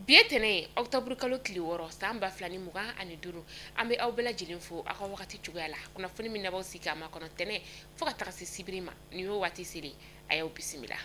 bi ye tɛnɛ ye octobre kalo tile wɔɔrɔ san ba fila ni mugan ani duuru an bɛ aw bɛɛ lajɛlen fo aw ka wagati cogoya la kunnafoni min n'aw b'aw sigi k'a makɔnɔ tɛnɛ fo ka taga se sibiri ma nin y'o waati seli a y'aw bisimila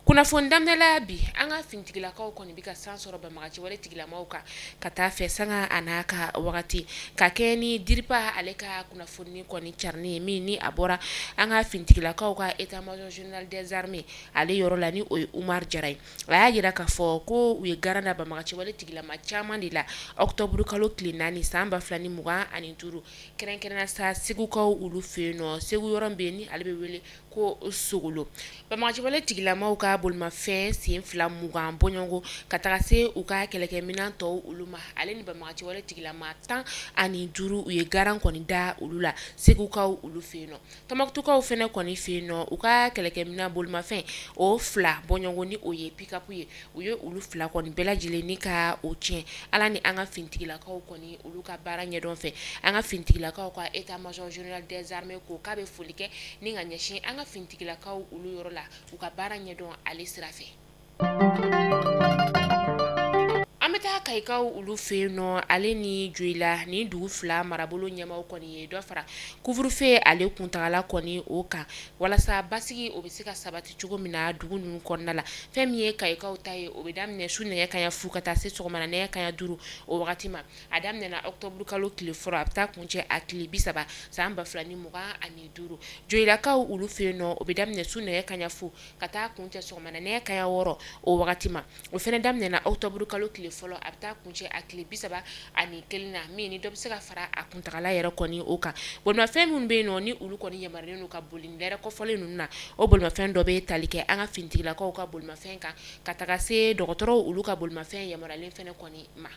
Kunnafoni daminɛla bi an ka fintigilakaw kɔni bɛ ka san sɔrɔ banbagaciwale tigilamaw kan ka taa fɛ sanga an'a ka wagati ka kɛ ni dirpa ale ka kunnafoni kɔni carinnen ye min ni a bɔra an ka fintigilakaw ka état major général des armées ale yɔrɔ la ni o ye umar jara ye a y'a jira k'a fɔ ko u ye garan da banbagaciwale tigilama caman de la octobre kalo tile naani san ba fila ni mugan ani duuru kɛrɛnkɛrɛn sa segukaw olu fɛ yen nɔ segu yɔrɔ bɛ yen ni ale bɛ wele ko sokolo banbagaciwale tigilamaw ka bolimafɛn sen fila mugan bɔɲɔgɔn ka taga se u ka kɛlɛkɛminɛn tɔw olu ma ale ni banbagaciwale tigilama tan ani duuru u ye garan kɔni da olu la segukaw olu fɛ yen nɔ tɔnbukutukaw fana kɔni fɛ yen nɔ u ka kɛlɛkɛminɛn bolimafɛn o fila bɔɲɔgɔn ni o ye pikapu ye u ye olu fila kɔni bɛɛ lajɛlen ni ka o tiɲɛ ala ni an ka fintigilakaw kɔni olu ka baara ɲɛdɔn fɛ an ka fintigilakaw ka état major général des armées ko k'a bɛ foli kɛ ni ka ɲɛsin an ka fintigilakaw olu yɔrɔ la u ka baara ɲɛdɔn ale sira fɛ an bɛ taa kayikaw olu fɛ yen nɔ ale ni joyila nin dugu fila marabolo ɲɛmaaw kɔni ye dɔ fara couvre-feu ale kuntagala kɔni o kan walasa basigi o bɛ se ka sabati cogo min na dugu ninnu kɔnɔna la fɛn min ye kayikaw ta ye o bɛ daminɛ su nɛgɛ kanɲɛ fu ka taa se sɔgɔmada nɛgɛ kanɲɛ duuru o wagati ma a daminɛna octobre kalo tile fɔlɔ a bɛ taa kuncɛ a tile bi saba san ba fila ni mugan ani duuru joyilakaw olu fɛ yen nɔ o bɛ daminɛ su nɛgɛ kanɲɛ fu ka taa kuncɛ sɔgɔmada nɛgɛ kanɲɛ wɔɔrɔ o wagati ma o fana daminɛna octobre kalo tile fɔlɔ a bɛ taa kuncɛ a tile bi saba ani kelen na min ni dɔ bɛ se ka fara a kuntagala yɛrɛ kɔni o kan bolimafɛn minnu bɛ yen nɔ ni olu kɔni yamaruyalen don ka boli nin lɛrɛ kɔfɔlen ninnu na o bolimafɛn dɔ bɛ tali kɛ an ka finitigilakaw ka bolimafɛn kan ka taga se dɔgɔtɔrɔw olu ka bolimafɛn yamaruyalen fana kɔni ma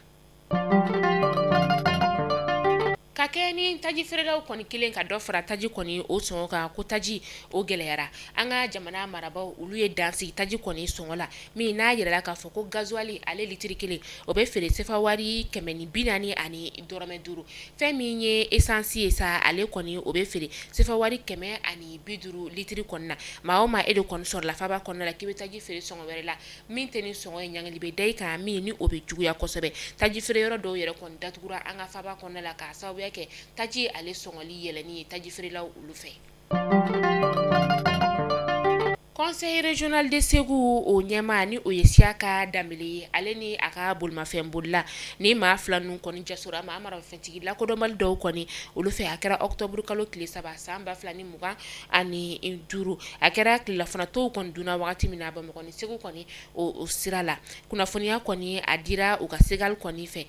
ka kɛ ni taji feerelaw kɔni kelen ka dɔ fara taji kɔni o sɔngɔ kan ko taji o gɛlɛyara an ka jamana marabaaw olu ye dan sigi taji kɔni sɔngɔ la min n'a jirala k'a fɔ ko gasoil ale litiri kelen o bɛ feere sefa wari kɛmɛ ni bi naani ani dɔrɔmɛ duuru fɛn min ye essence ye sa ale kɔni o bɛ feere sefa wari kɛmɛ ani bi duuru litiri kɔni na maa o maa e de kɔni sɔrɔla faaba kɔnɔna la k'i bɛ taji feere sɔngɔ wɛrɛ la min tɛ nin sɔngɔ ye ɲangili bɛ da i kan min ni o bɛ juguya kosɛbɛ taji feere yɔrɔ dɔw yɛrɛ kɔni datugura an ka faaba kɔnɔna la k'a sababuya kɛ taji ale sɔngɔli yɛlɛnni ye taji feerelaw olu fɛ Conseil régional de Ségou o ɲɛmaa ni o ye Siyaka Danbɛlɛ ye ale ni a ka bolimafɛn bolila ni maa fila ninnu kɔni jasora maa maramafɛntigi lakodɔnbali dɔw kɔni olu fɛ a kɛra ɔkutɔburukalo tile saba san ba fila ni mugan ani duuru a kɛra tilelafana to kɔni dunna waati min na Bamakɔ ni segu kɔni o sira la kunnafoniya kɔni a dira u ka segali kɔni fɛ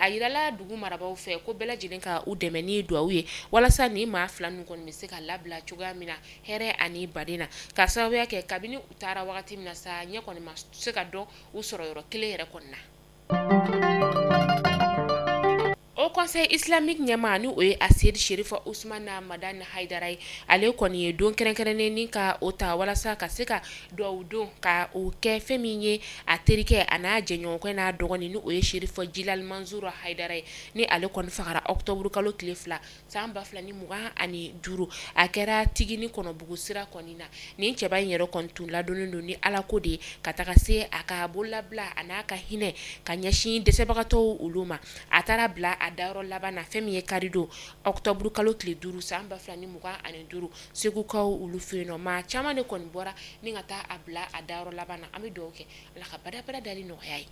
a jirala dugu marabagaw fɛ ko bɛɛ lajɛlen ka u dɛmɛ ni dugawu ye walasa ni maa fila ninnu kɔni bɛ se ka labila cogoya min na hɛrɛ ani baden na ka sababuya kɛ kabini u taara wagati min na sa ɲɛ kɔni ma se ka dɔn u sɔrɔyɔrɔ kelen yɛrɛ kɔni na Haut Conseil islamique ɲɛmaa ni o ye Aseyidi Sɛrifu Usumani Madani Hayidara ye ale kɔni ye don kɛrɛnkɛrɛnnen ni ka o ta walasa ka se ka dugawu don ka o kɛ fɛn min ye a terikɛ a n'a jɛɲɔgɔnkɛ n'a dɔgɔnin ni o ye Sɛrifu Jilali Mansuru Hayidara ye ni ale kɔni fagara ɔkutɔburukalo tile fila san ba fila ni mugan ani duuru a kɛra tigini kɔnɔbugu sira kɔni na nin cɛba in yɛrɛ kɔni tun ladɔnnen don ni ala ko de ye ka taga se a ka bololabila a n'a ka hinɛ ka ɲɛsin dɛsɛbagatɔ olu ma a taara bila a dayɔrɔ laban na fɛn min ye karidon ɔkutɔburukalo tile duuru san ba fila ni mugan ani duuru segukaw olu fɛ nɔ maa caman de kɔni bɔra ni ka taa a bila a dayɔrɔ laban na an bɛ dugawu kɛ ala ka badabada dali nɔgɔya ye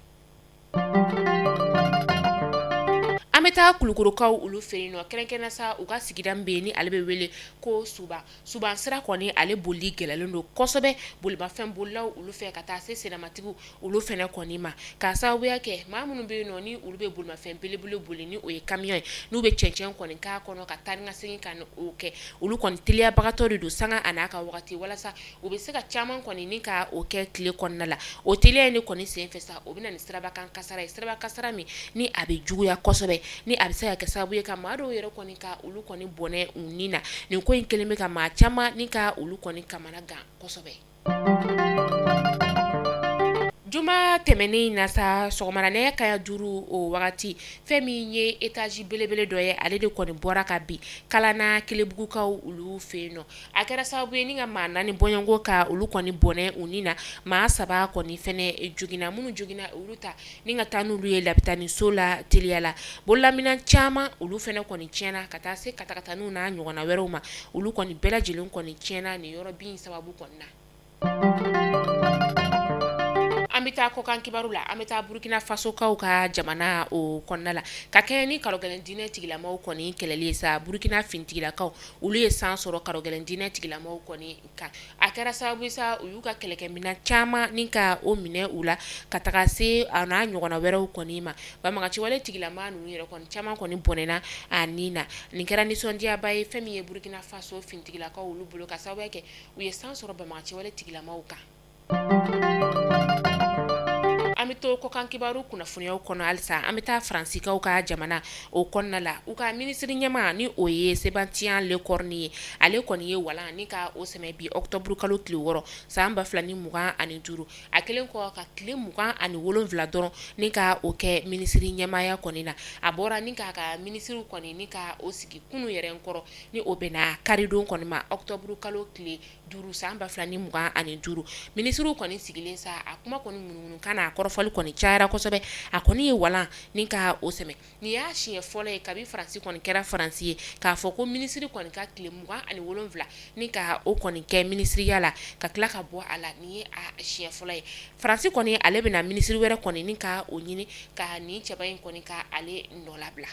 An bɛ taa Kulukɔrɔkaw olu fɛ yen nɔ kɛrɛnkɛrɛnnen na sa u ka sigida min bɛ ni ale bɛ wele ko Suban Suban sira kɔni ale boli gɛlɛlen don kosɛbɛ bolimafɛn bolilaw olu fɛ ka taa se sennamatigiw olu fɛnɛ kɔni ma ka sababuya kɛ maa minnu bɛ yen nɔ ni olu bɛ bolimafɛn belebele boli ni o ye kamiyɔn ye n'u bɛ cɛncɛn kɔni kɔnɔ ka taa ka segin ka o kɛ olu kɔni teliyabagatɔ de don sanga a n'a ka waati walasa U bɛ se ka caman kɔni ni ka o kɛ tile kɔnɔna la o teliya in de kɔni senfɛ sa o bɛ na ni siraba kan kasara ye siraba kasara min ni a bɛ juguya kosɛbɛ ni a bɛ se ka kɛ sababu ye ka maa dɔw yɛrɛ kɔni ka olu kɔni bɔnɛ u ni na nin ko in kelen bɛ ka maa caman ni ka olu kɔni kamana gan kosɛbɛ juma tɛmɛnen na sa sɔgɔma na nɛgɛ kaɲɛ duuru o wagati fɛn min ye etazi belebele dɔ ye ale de kɔni bɔra ka bin Kalana Kelebugukaw olu fɛ yen nɔ a kɛra sababu ye ni ka maa naani bɔɲɔgɔnko ka olu kɔni bɔnɛ u ni na maa saba kɔni fɛnɛ joginna minnu joginna olu ta ni ka taa n'olu ye lapitaniso la teliya la bololaminɛn caman olu fɛnɛ kɔni tiɲɛna ka taa se katakataninw n'a ɲɔgɔnna wɛrɛw ma olu kɔni bɛɛ lajɛlen kɔni tiɲɛna nin yɔrɔ bin sababu kɔni na an bɛ taa kɔkan kibaru la an bɛ taa burukina fasokaw ka jamana o kɔnɔna la ka kɛɲɛ ni karɔgɛlɛn diinɛ tigilamaw kɔni kɛlɛli ye sa burukina finitigilakaw olu ye san sɔrɔ karɔgɛlɛn diinɛ tigilamaw kɔni kan a kɛra sababu ye sa u y'u ka kɛlɛkɛminɛn caman ni ka o minɛ u la ka taga se a n'a ɲɔgɔnna wɛrɛw kɔni ma banbagaciwale tigilama ninnu yɛrɛ kɔni caman kɔni bɔnɛna a ni na nin kɛra nisɔndiyaba ye fɛn min ye burukina faso finitigilakaw olu bolo k'a sababu kɛ u ye san sɔrɔ banbagaciwale tigilamaw kan an bɛ to kɔkan kibaru kunnafoniyaw kɔnɔ halisa an bɛ taa faransikaw ka jamana o kɔnɔna la u ka minisiri ɲɛmaa ni o ye Sébastien Lecornu ye ale kɔni ye walan ni ka o sɛmɛ bi ɔkutɔburu kalo tile wɔɔrɔ san ba fila ni mugan ani duuru a kelen kɔ ka tile mugan ani wolonwula dɔrɔn ni ka o kɛ minisiri ɲɛmaaya kɔni na a bɔra ni k'a ka minisiriw kɔni ni ka o sigi kunu yɛrɛ kɔrɔ ni o bɛnna karidon kɔni ma octobre kalo tile duuru san ba fila ni mugan ani duuru minisiriw kɔni sigilen sa a kuma kɔni munumunu kan n'a kɔrɔfɔli kɔni cayara kosɛbɛ a kɔni ye walan ni ka o sɛmɛ nin y'a siɲɛ fɔlɔ ye kabi faransi kɔni kɛra faransi ye k'a fɔ ko minisiri kɔni ka tile mugan ani wolonwula ni ka o kɔni kɛ minisiriya la ka tila ka bɔ a la nin ye a siɲɛ fɔlɔ ye faransi kɔni ale bɛna minisiri wɛrɛ kɔni ni ka o ɲini ka nin cɛba in kɔni ka ale nɔ labila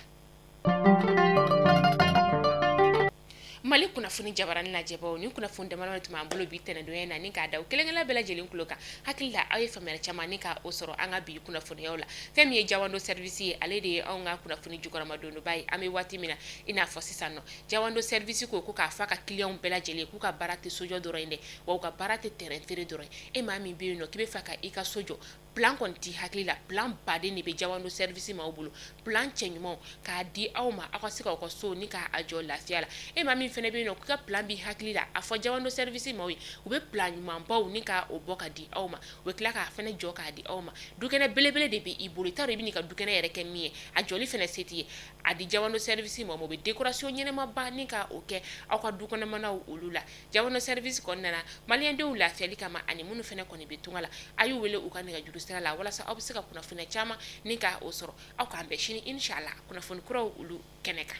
mali kunnafoni jabarani lajɛbaw nin kunnafoni damadama de tun b'an bolo bi tɛnɛdonya na ni k'a da aw kelenkelenna bɛɛ lajɛlen kulo kan hakili la aw ye faamuyali caman ni ka o sɔrɔ an ka bi kunnafoniyaw la fɛn min ye jawando service ye ale de ye anw ka kunnafoni jukɔrɔmadondoba ye an bɛ waati min na i n'a fɔ sisan nɔ jawando service ko ko k'a fɔ a ka kiliyanw bɛɛ lajɛlen ye k'u ka baara tɛ sojɔ dɔrɔn ye dɛ wa u ka baara tɛ terrain feere dɔrɔn ye e maa min bɛ yen nɔ k'i b'a fɛ ka i ka so jɔ plan kɔni t'i hakili la plan baden de bɛ jawando service maaw bolo plan cɛɲumanw k'a di aw ma aw ka se k'aw ka so ni k'a a jɔ lafiya la e maa min fɛnɛ bɛ yen nɔ k'i ka plan b'i hakili la a fɔ jawando service maaw ye u bɛ plan ɲumanbaw ni ka o bɔ ka di aw ma u bɛ tila k'a fɛnɛ jɔ k'a di aw ma dukɛnɛ belebele de bɛ i bolo i t'a dɔn i bɛ n'i ka dukɛnɛ yɛrɛ kɛ min ye a jɔli fɛnɛ se t'i ye a di jawando service maaw ma u bɛ décoration ɲɛnamaba ni ka o kɛ aw ka dukɔnɔmanaw olu la jawando service kɔnɔna na maliyɛndenw lafiyali kama ani minnu fɛnɛ kɔni bɛ tunga la a y'u wele u ka nɛgɛjuru sira la walasa aw bɛ se ka kunnafoniya caman ni ka o sɔrɔ aw k'an bɛn sini inchala kunnafoni kuraw olu kɛnɛ kan